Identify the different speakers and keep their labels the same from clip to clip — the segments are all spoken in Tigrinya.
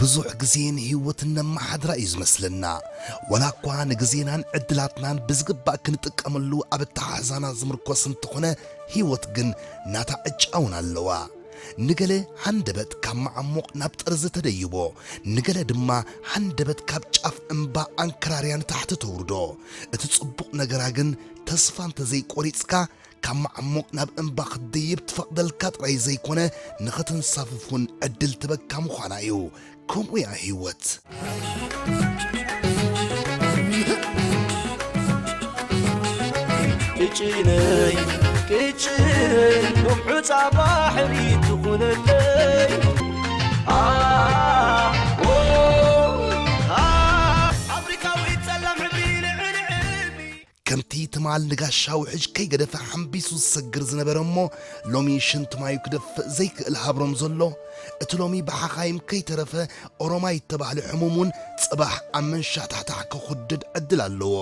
Speaker 1: ብዙሕ ግዜ ንህይወት እነመሓድራ እዩ ዝመስለና ዋላ እኳ ንግዜናን ዕድላትናን ብዝግባእ ክንጥቀመሉ ኣብ ኣተሓሕዛና ዝምርኮስ እንተኾነ ህይወት ግን ናታ ዕጫ እውን ኣለዋ ንገለ ሃንደበት ካብ መዓሙቕ ናብ ጠርዚ ተደይቦ ንገለ ድማ ሃንደበት ካብ ጫፍ እምባ ኣንከራርያ ንታሕቲ ተውርዶ እቲ ጽቡቕ ነገራ ግን ተስፋ እንተ ዘይቈሪጽካ ካብ መዓሙቕ ናብ እምባ ክትድይብ ትፈቕደልካ ጥራይ ዘይኮነ ንኽትንሳፍፍ እውን ዕድል ትህበካ ምዃና እዩ። ከምኡ እያ ህይወት።
Speaker 2: ቅጭነይ ቅጭነይ ውሑፃ ባሕሪ ትኹነለይ ጻውዒት ጸላም ሕብሪ ልዕሊ ዕብይ። ከምቲ ትማል
Speaker 1: ንጋሻ ውሕጅ ከይገደፈ ሓምቢሱ ዝሰግር ዝነበረ እሞ ሎሚ ሽንቲ ማዩ ክደፍእ ዘይክእል ሃብሮም ዘሎ፣ እቲ ሎሚ ብሓኻይም ከይተረፈ ኦሮማይ እተባህለ ሕሙም እውን ጽባሕ ኣብ መንሻሕታሕታሕ ክኹድድ ዕድል ኣለዎ።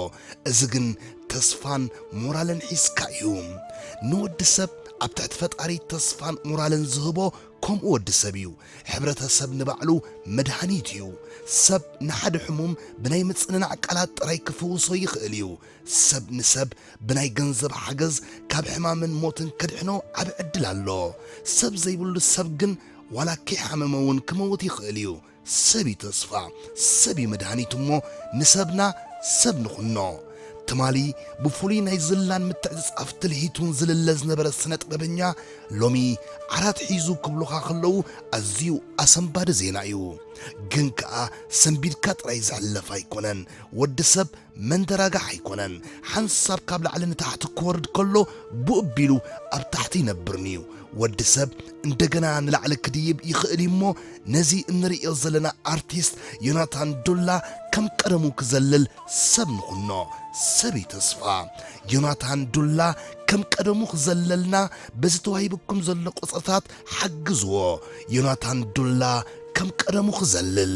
Speaker 1: እዚ ግን ተስፋን ሞራልን ሒዝካ እዩ። ንወዲ ሰብ ኣብ ትሕቲ ፈጣሪ ተስፋን ሞራልን ዝህቦ ከምኡ ወዲ ሰብ እዩ ሕብረተ ሰብ ንባዕሉ መድሃኒት እዩ ሰብ ንሓደ ሕሙም ብናይ ምጽንናዕ ቃላት ጥራይ ክፍውሶ ይኽእል እዩ ሰብ ንሰብ ብናይ ገንዘብ ሓገዝ ካብ ሕማምን ሞትን ከድሕኖ ዓቢ ዕድል ኣሎ ሰብ ዘይብሉ ሰብ ግን ዋላ ከይሓመመ እውን ክመውት ይኽእል እዩ ሰብ እዩ ተስፋ፣ ሰብ እዩ መድሃኒት እሞ ንሰብና ሰብ ንኹኖ። ትማሊ ብፍሉይ ናይ ዝላን ምትዕጽጻፍ ትልሂቱን ዝልለ ዝነበረ ስነጥበበኛ ሎሚ ዓራት ሒዙ ክብሉኻ ከለዉ ኣዝዩ ኣሰንባዲ ዜና እዩ። ግን ከኣ ሰንቢድካ ጥራይ ዝሕለፍ ኣይኮነን። ወዲ ሰብ መንደራጋሕ ኣይኮነን ሓንሳብ ካብ ላዕሊ ንታሕቲ ክወርድ ከሎ ቡእ ቢሉ ኣብ ታሕቲ ይነብር ንዩ ወዲ ሰብ እንደገና ንላዕሊ ክድይብ ይኽእል እዩ እሞ ነዚ እንርእዮ ዘለና ኣርቲስት ዮናታን ዱላ ከም ቀደሙ ክዘልል ሰብ ንኹኖ ሰብ እዩ ተስፋ ዮናታን ዱላ ከም ቀደሙ ክዘለልና በዚ ተዋሂብኩም ዘሎ ቁጽርታት ሓግዝዎ ዮናታን ዱላ ከም ቀደሙ ክዘልል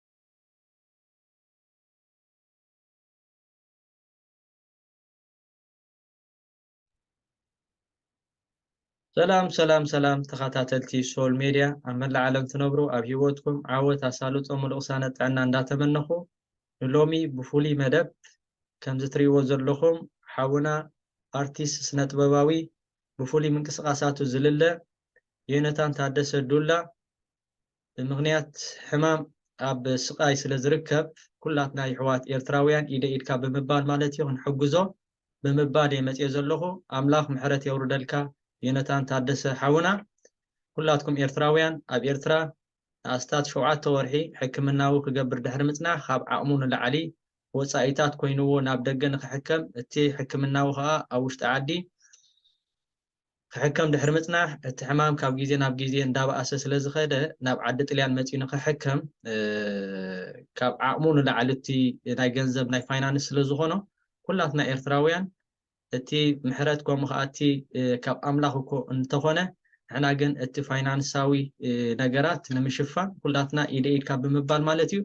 Speaker 2: ሰላም ሰላም ሰላም ተኸታተልቲ ሶል ሜድያ ኣብ መላእ ዓለም ትነብሩ ኣብ ሂወትኩም ዓወት ኣሳልጦ ምሉእ ቅሳነት ጥዕና እንዳተመነኹ ንሎሚ ብፍሉይ መደብ ከምዚ ትሪእዎ ዘለኹም ሓውና ኣርቲስት ስነጥበባዊ ብፍሉይ ምንቅስቓሳቱ ዝልለ ዮነታን ታደሰ ዱላ ብምኽንያት ሕማም ኣብ ስቃይ ስለ ዝርከብ ኩላትና ይሕዋት ኤርትራውያን ኢደይ ኢድካ ብምባል ማለት እዩ ክንሕግዞ ብምባል እየ መጽየ ዘለኹ ኣምላኽ ምሕረት የውርደልካ ዮነታን ታደሰ ሓውና ኩላትኩም ኤርትራውያን ኣብ ኤርትራ ንኣስታት ሸውዓተ ወርሒ ሕክምናዊ ክገብር ድሕሪ ምጽናሕ ካብ ዓቕሙ ንላዕሊ ወጻኢታት ኮይንዎ ናብ ደገ ንኽሕከም እቲ ሕክምናዊ ከኣ ኣብ ውሽጢ ዓዲ ክሕከም ድሕሪ ምጽናሕ እቲ ሕማም ካብ ግዜ ናብ ግዜ እንዳበኣሰ ስለ ዝኸደ ናብ ዓዲ ጥልያን መጺኡ ንኽሕከም ካብ ዓቕሙ ንላዕሊ እቲ ናይ ገንዘብ ናይ ፋይናንስ ስለ ዝኾኖ ኩላትና ኤርትራውያን እቲ ምሕረት ከምኡ ከኣ እቲ ካብ ኣምላኽ እኮ እንተኾነ ንሕና ግን እቲ ፋይናንሳዊ ነገራት ንምሽፋን ኩላትና ኢደ ኢድ ካብ ብምባል ማለት እዩ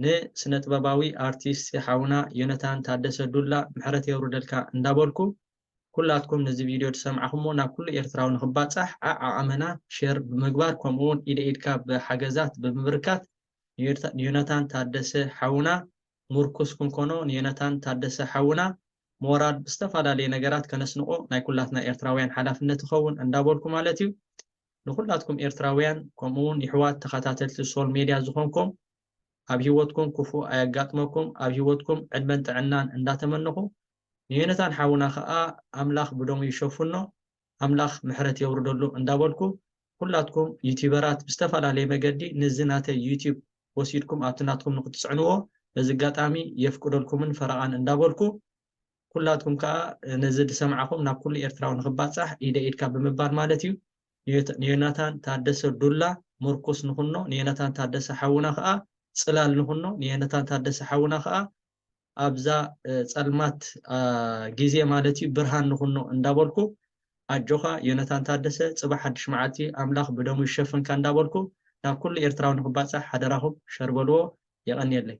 Speaker 2: ንስነ ጥበባዊ ኣርቲስት ሓውና ዮነታን ታደሰ ዱላ ምሕረት የውርደልካ እንዳበልኩ ኩላትኩም ነዚ ቪድዮ ድሰምዕኹሞ ናብ ኩሉ ኤርትራዊ ንኽባጻሕ ኣዕ ዓቐመና ሸር ብምግባር ከምኡ ውን ኢደ ኢድካ ብሓገዛት ብምብርካት ንዮናታን ታደሰ ሓውና ሙርኩስ ክንኮኖ ንዮናታን ታደሰ ሓውና ሞራል ብዝተፋላለየ ነገራት ከነስንቆ ናይ ኩላትና ኤርትራውያን ሓላፍነት ይኸውን እንዳበልኩ ማለት እዩ ንኹላትኩም ኤርትራውያን ከምኡ ውን ይሕዋት ተኸታተልቲ ሶል ሜድያ ዝኾንኩም ኣብ ሂወትኩም ኩፉእ ኣየጋጥመኩም ኣብ ሂወትኩም ዕድመን ጥዕናን እንዳተመነኹ ንዮነታን ሓውና ከኣ ኣምላኽ ብደሙ ይሸፍኖ ኣምላኽ ምሕረት የውርደሉ እንዳበልኩ ኩላትኩም ዩቲበራት ብዝተፈላለየ መገዲ ንዚ ናተይ ዩቲብ ወሲድኩም ኣብቲ ናትኩም ንክትጽዕንዎ በዚ ኣጋጣሚ የፍቅደልኩምን ፈረቓን እንዳበልኩ ኩላትኩም ከኣ ነዚ ድሰማዕኹም ናብ ኩሉ ኤርትራዊ ንክባጻሕ ኢደይ ኢድካ ብምባል ማለት እዩ ንዮናታን ታደሰ ዱላ ሙርኩስ ንኹኖ ንዮናታን ታደሰ ሓውና ከኣ ጽላል ንኹኖ ንዮናታን ታደሰ ሓውና ከኣ ኣብዛ ፀልማት ግዜ ማለት እዩ ብርሃን ንኹኖ እንዳበልኩ ኣጆኻ ዮነታን ታደሰ ፅባሕ ሓዱሽ መዓልቲ እዩ ኣምላኽ ብደሙ ይሸፍንካ እንዳበልኩ ናብ ኩሉ ኤርትራዊ ንኽባፃሕ ሓደራኹም ሸር በልዎ የቐንየለይ።